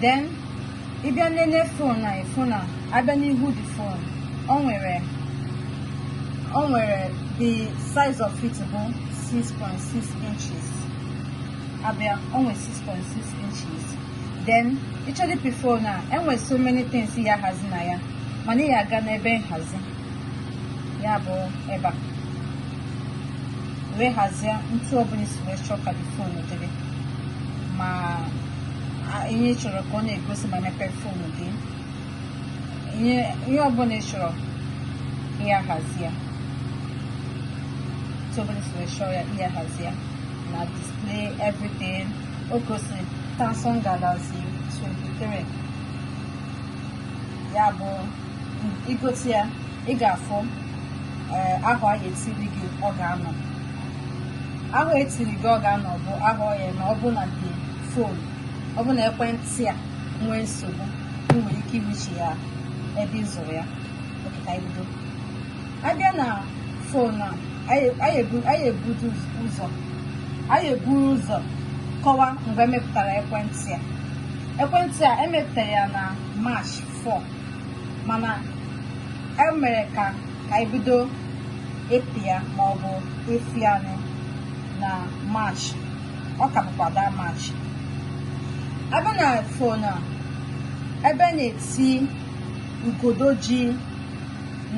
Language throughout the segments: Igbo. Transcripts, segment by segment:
then ị bịa nene fon anyị fon a abịa n'ihu the fon o nwere o nwere the size of it bụ 6.6 inches abịa o nwere 6.6 inches then ịchọdị ịpị fon a enwere so many things ị ya ahazi na ya mana ị ya aga n'ebe nhazi ya bụ ebe a wee hazie n'etu ọbụla isi wee chọọ ka fon dịrị ma ihe ị chọrọ ka ọ na-egosi ma mepee fon gị ihe ọbụla ị chọrọ ya hazie n'etu ọbụla isi wee chọọ ya ya hazie na display everything o gosiri Samsung Galaxy 23 ya bụ igote ya ị ga-afụ eh, ahọ a ga-etiri gị ọ ga-anọ ahọ etiri gị ọ ga-anọ bụ ahọ ya na ọ bụ na the fon ọ bụ na ekwentị a nwee nsogbu ị nwere ike iwechi ya ebe ị zụrụ ya okịta ibido abịa na fon a anyị eburu ụzọ anyị eburu ụzọ kọwa mgbe emepụtara ekwentị a ekwentị a emepụtara ya na march 4 mana e mere ka ka anyị bido ịpị ya maọbụ efi anyị na march ọ ka bụkwa that march abịa na fon a ebe na-eti ugodo ji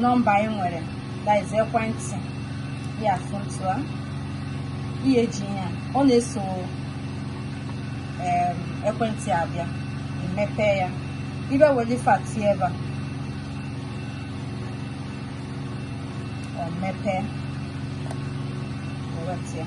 nọmba anyị nwere that is ekwentị ya foto a ihe eji ihe a ọ na-eso em, ekwentị abịa emepe ya ibe weli fati ebe a ọ mepee eweta ya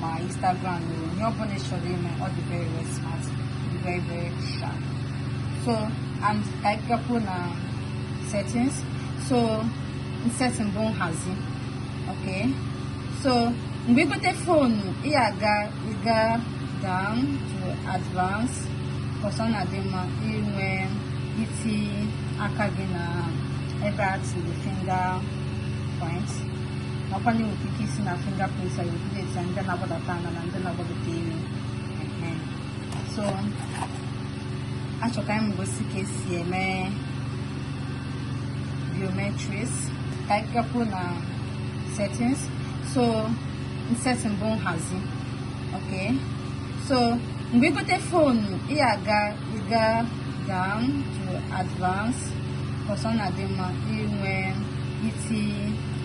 ma Instagram na onye ọbụla chọrọ ime ọ dị very very smart dị very very sharp so and ka anyị gakwuo na settings so setting bụ nhazi okay so mgbe igote fonu ị aga ịga down to advance cause ọ na-adị mma inwe iti aka gị na ebe a tiri finger point nakwa na enwere ike isi na fingerprints anyị update ndị na-agbadata ana na ndị na-agbadata elu so achọ ka m gosi ka esi eme biometrics ka anyị gakwuo na settings so setting bụ nhazi ok so mgbe igote fonu ị aga ịga down to advance cause ọ na-adị mma inwe si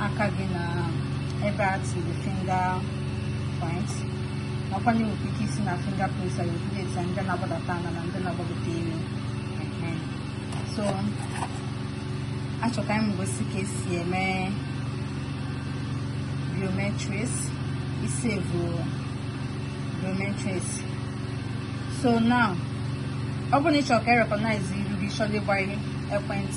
aka gị na ebe a tiri fingerprint nakwa na enwere ike isi na fingerprint anyị obido eti ndị na-agbadata ala na ndị na-agbagota elu so achọ ka m gosi ka esi eme biometrics isevu biometrics so now ọ bụrụ na ị chọrọ ka e recognize iru gị chọrọ ịgba ekwentị